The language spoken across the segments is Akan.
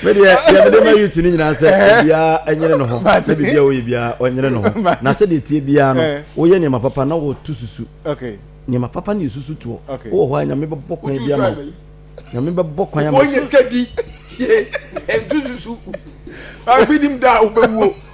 me deɛ deɛ mede ma youth no nyinaa sɛ obiara ɛnyere ne ho na biribiara woyɛ biara ɔnyere ne ho na sɛdeɛ tie biara no woyɛ nneɛma papa na wɔto susu nneɛma papa ne yɛsusu toɔ wowɔ hɔ a nyame bɛbɔ kwan bi ama wo nyame bɛbɔ kwan ama wo tie ɛnto susu obi nim da a wobɛwuo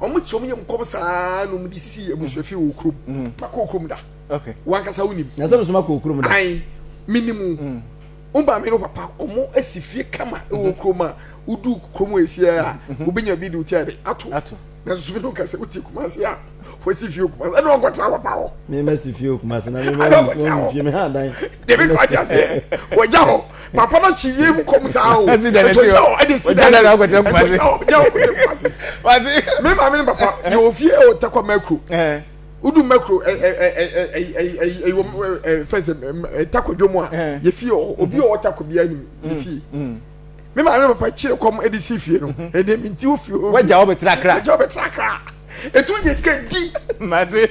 wɔn kyi wɔn yɛ mu kɔm saa na wɔn de si abusuafi wɔ okurom mm. ma kɔ okurom da wankasa wo nim na sɛ mesoma kɔ okurom da ayi mi ni mu mm. wo ba mi no papa wɔn asi fie kama wɔ mm-hmm. okurom a wodu kurom a esi a mm-hmm. wobɛnya bi de wotia de ato na nso mi no kasa wotie kumase a wɔsi fie kumase ɛna wɔn kɔtena wɔ ba hɔ mi ma si fie kumase na mi ma wɔn fie mi ha dan debi kɔ ati aseɛ wɔgya hɔ papa no kyi yie mu kɔm saa o ɛtɔ gya hɔ ɛde si dan ɛtɔ gya hɔ gya hɔ kɔtɛ kumase me maame ne papa yɛ wɔ fie ɛwɔ takwa mɛkuro wodu mɛkuro ɛyi wɔm fɛsɛ takwa dwom a yɛ fie wɔ obi ɔwɔ takwa bi anim yɛ fie me maame ne papa kyerɛ kɔm ɛde si fie no ɛde mi nti wo fie o wagya wɔ bɛ tra kra wagya wɔ bɛ tra kra etu yɛ sika di mate.